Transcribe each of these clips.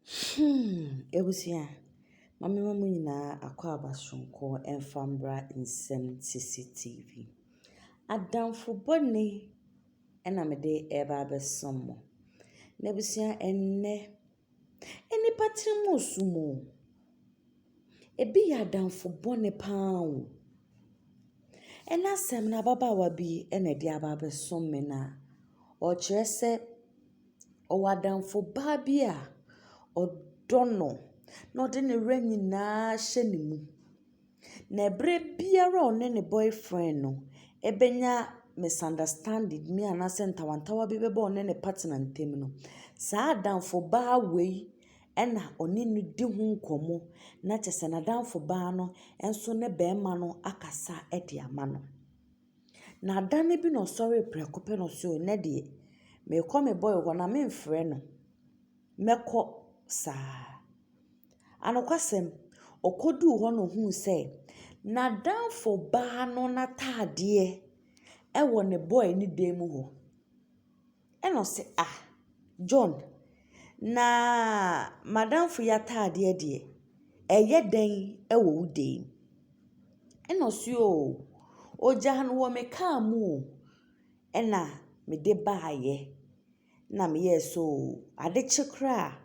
Hmm, abusua, ma memma mo nyinaa akwaaba soronko mfa mbra nsɛm sisi TV. Adamfo bɔne na mede reba abɛsom mo. Na abusua, ɛnnɛ, nnipa tiri mu resum o. Ebi yɛ adamfo bɔne pa ara o. Ɛnnɛ asɛm no, ababaawa bi na ɛde aba abɛsom me na ɔrekyerɛ sɛ. Ɔwɔ adamfo baa bi a ɔdɔ no, na ɔde ne werɛ nyinaa ahyɛ ne mu. Na bere biara a ɔne ne boyfriend no benya misunderstanding bi anaasɛ ntawntawa bi bɛba ɔne ne partner ntam no, saa adamfo baa wei na ɔne no di ho nkɔmmɔ, na kyerɛ sɛ n'adamfo baa no nso ne barima no akasa de ama no. Na da no bi na ɔsɔree prɛko pɛ na ɔsee nnɛ deɛ merekɔ me boy hɔ na memfrɛ no, mɛkɔ saa. Anokwasɛm, ɔkɔduu hɔ na ɔhuu sɛ n'adamfo baa no n'ataadeɛ wɔ ne boy ne dan mu hɔ. Ɛna ɔse ah John na m'adamfo yi ataadeɛ deɛ ɛyɛ dɛn wɔ wo dan mu? Ɛna ɔse oo ɔgyaa no wɔ me kaa mu o ɛna mede baeɛ na meyɛɛ sɛ oo ade kye koraa a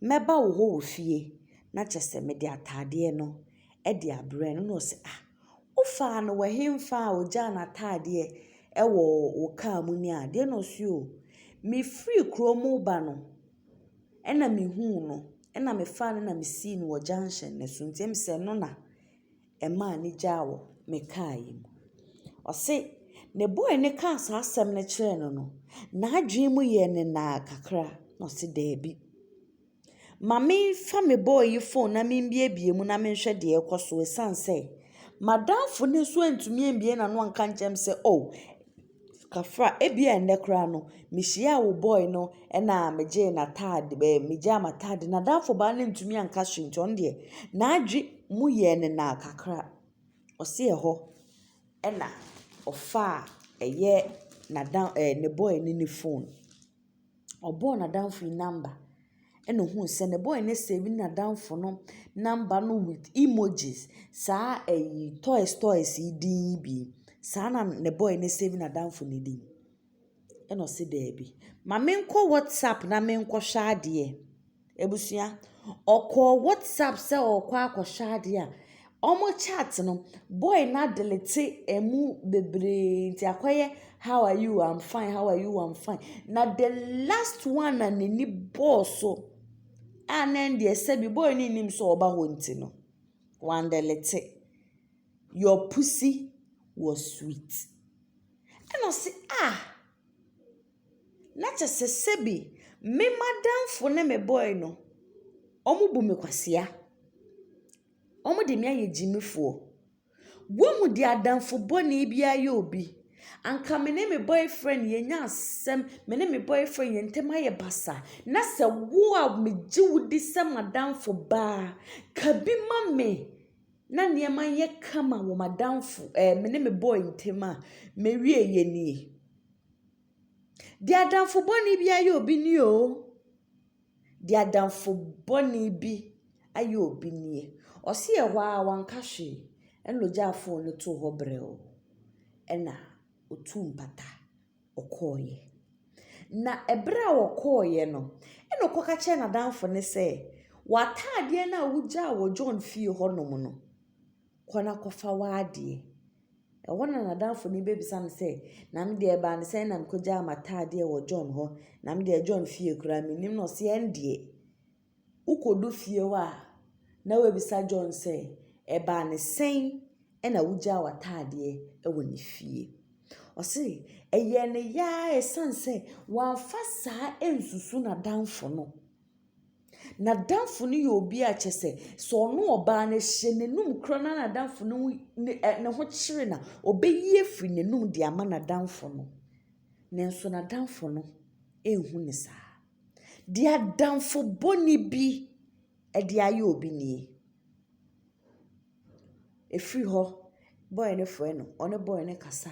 mɛba wo hɔ wɔ fie na kyerɛ sɛ mede ataadeɛ no de abrɛ no. Ɛna ɔse ah. Wofaa no wɔ henfa a ogyaa n'ataadeɛ wɔ wo kaa mu ne a? Deɛ na ɔse o, Mefirii kuro mu reba no na mehuu no na mefaa no na mesii no wɔ junction no so nti ɛm sɛ ɛno na ɛmaa no gyaa wɔ me kaa yi mu. Ɔse ne boy no kaa saa asɛm no kyerɛɛ no no, n'adwene mu yɛɛ no naa kakra na ɔse daabi. Ma memfa me bɔɔ yi phone na membiebie mu na menhwɛ deɛ ɛkɔ so ɛsiane sɛ m'adamfo no nso antumi ambie n'ano anka nkyerɛ me sɛ oh Kafra ebia ɛnnɛ koraa no mehyiaa wo boy no ɛna megyee n'ataade ɛɛ megyaa m'ataade n'adamfo baa no ntumi anka hwee nti ɔno deɛ n'adwe mu yɛɛ ne naa kakra ɔse ɛhɔ ɛna ɔfaa ɛyɛ n'adam ɛɛ ne boy no ne phone. ɔbɔɔ n'adamfo yi number na ohuu sɛ ne boy no save n'adamfo no number no with emojis, saa ɛyi toys toys yi din yi bi. Saa na ne boy no save n'adamfo no din. Ɛna ɔse daabi, ma menkɔ WhatsApp na menkɔhwɛ adeɛ. Abusua, ɔkɔɔ WhatsApp sɛ ɔɔkɔ akɔhwɛ adeɛ a, ɔmo chat no, boy no adelete ɛmu bebree nti akɔyɛ how are you, am fine, how are you, am fine. Na the last one a n'ani bɔɔ so a na ɛndeɛ sɛbi boy no nnim sɛ ɔɔba hɔ nti no, wandelete. Your pussy was sweet. Ɛna ɔse ah! na kyɛ sɛ sɛbi me m'adamfo ne me bɔe no, wɔbu me kwasea. Wɔde me ayɛ gyimifoɔ. Woahu deɛ adamfo bɔne biara yɛ obi? Anka me ne me boyfriend yɛnya asɛm, me ne me boyfriend yɛn ntam ayɛ basa, na sɛ wo a megye wo di sɛ m'adamfo baa, ka bi ma me na nneɛma nyɛ kama wɔ m'adamfo ɛɛ me ne me boy ntam a, mɛwie yɛ nie. Deɛ adamfo bɔne bi ayɛ obi nie o. Deɛ adamfo bɔne bi ayɛ obi nie. Ɔse yɛ hɔ ara wanka hwee, ɛna ɔgyaa fon no too hɔ brɛoo, ɛna ɔtuu mpata ɔkɔeɛ. Na ɛberɛ a ɔkɔeɛ no, ɛna ɔkɔ ka kyerɛɛ n'adamfo no sɛ, w'ataadeɛ no a wogyaa wɔ John fie hɔnom no, kɔ na kɔfa w'adeɛ. Ɛhɔ na n'adamfo no bɛbisa no sɛ, na me deɛ ɛbaa no sɛn na mekɔgyaa m'ataadeɛ wɔ John hɔ, na me deɛ John fie koraa mennim no. Ɔse ɛndeɛ, wokɔdu fie hɔ a na wabisa John sɛ, ɛbaa no sɛn na wogyaa w'ataadeɛ wɔ ne fie. Ɔse ɛyɛɛ no yaa ɛsiane sɛ wamfa saa ansusu n'adamfo no. N'adamfo no yɛ obi a kyerɛ sɛ, sɛ ɔne ɔbaa no hyɛ n'anum koraa no na n'adamfo no ho ne ɛ ne ho kyere no a, ɔbɛyi afiri n'anum de ama n'adamfo no. Nanso n'adamfo no nhu no saa. Deɛ adamfo bɔne bi de ayɛ obi nie. Ɛfiri hɔ, bɔɔl no frɛ no, ɔne bɔɔl no kasa.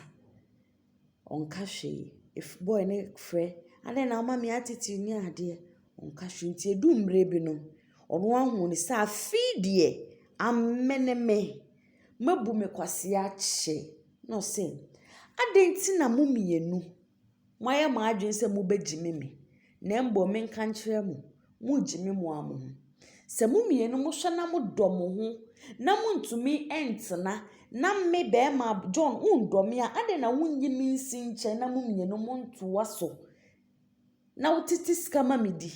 Ɔnka hwee. Ef boy no frɛ, adɛn na woma me attitude ne adeɛ? Ɔnka hwee. Nti edu mmerɛ bi no, ɔno ahunu no sɛ afe yi deɛ, amene me. Mabu me kwasea akyɛ. Ɛna ɔse, adɛn nti na mo mmienu moayɛ mo adwene sɛ mobɛgyimi me? Na mbom menka nkyerɛ mo, munngye me moa mo ho. Sɛ mo mmienu mohwɛ na modɔ mo ho na monntumi nntena na me bɛɛma John wonndɔ me a, adɛn na wonnye me nnsi nkyɛn na mo mmienu monntoa so na wotete sika ma me di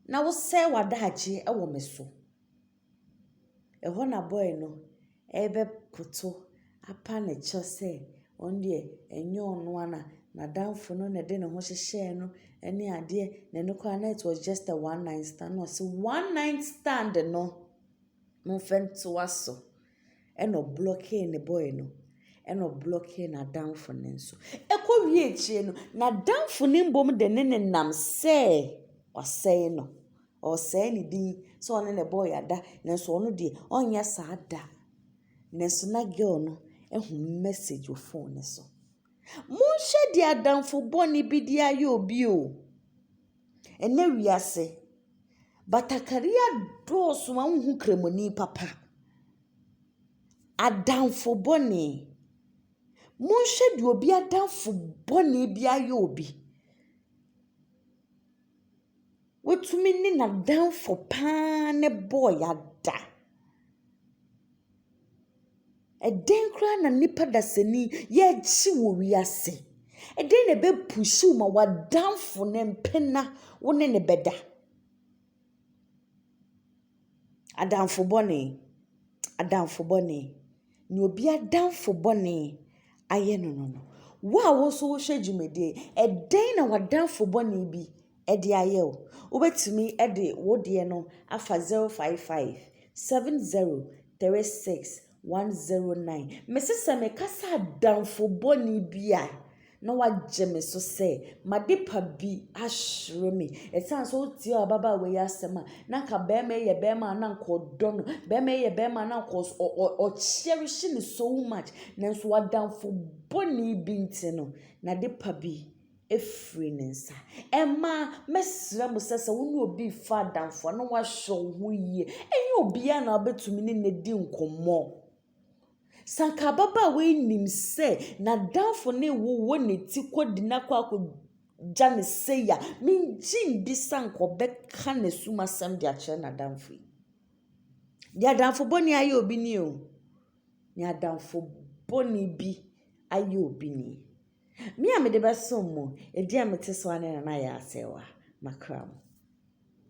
na wosɛe w'adaagye wɔ me so? Ɛhɔ na boy no rebɛkoto apa ne kyɛ sɛ ɔno deɛ ɛnyɛ ɔno ara na n'adamfo no na ɛde ne ho hyehyɛɛ no ne adeɛ, na ɛno koraa na it was just a one night stand. Ɛna ɔse one night stand no, momfa ntoa so. Ɛna ɔblɔkee ne boy no, ɛna ɔblɔkee n'adamfo no nso. Ɛkɔwie akyire no, n'adamfo no mmom de ne no nam sɛ wasɛe no. Ɔresɛe ne din sɛ ɔne na ɛbɔɔ yɛada nanso ɔno deɛ ɔnyɛ saa da. Nanso na girl no ahu message wɔ phone no so. Monhwɛ deɛ adamfo bɔne bi de ayɛ obi o. Ɛnɛ wiase, batakari adɔɔso ma wonhu Kramoni papa. Adamfo bɔne. Monhwɛ deɛ obi adamfo bɔne bi ayɛ obi. Watumi ne n'adamfo pa ara no bɔɔ yɛ ada. Ɛdɛn koraa na nipa dasani yɛgye wɔ wiase? Ɛdɛn na ɛbɛ push wo ma w'adamfo no mpena wo ne no bɛda? Adamfo bɔne, adamfo bɔne. Nea obi adamfo bɔne ayɛ no no, wo a wo nso wohwɛ dwumadie yi, ɛdɛn na w'adamfo bɔne bi de ayɛ wo? Wobɛtumi de wo deɛ no afa zero five five, seven zero, three six. 109, Mese sɛ meka sɛ adamfo bɔne bi a, na wagye me so sɛ m'adepa bi ahyere me. Ɛsiane sɛ wotiee ababaawa yi asɛm a, na anka barima yi yɛ barima a na anka ɔdɔ no. Barima yi yɛ barima a na anka ɔkyɛrehye no so much. Nanso adamfo bɔne bi nti no, n'adepa bi afiri ne nsa. Mmaa, mɛsrɛ mo sɛ, sɛ wo ne obi refa adamfo a, na woahwɛ wo ho yie. Ɛnyɛ obiara na wobɛtumi ne no adi nkɔmmɔ. Sɛ anka ababaawa yi nim sɛ n'adamfo ne rewowɔ ne ti kɔ di no akɔ akɔgya no sei a, mengye nndi sɛ anka ɔbɛka n'asum asɛm de akyerɛ n'adamfo yi. Deɛ adamfo bɔne ayɛ obi nie o. Deɛ adamfo bɔne bi ayɛ obi nie. Me a mede bɛsom mo, ɛdi a mete so ara ne na no ayɛ asɛe wɔ m'akra mu.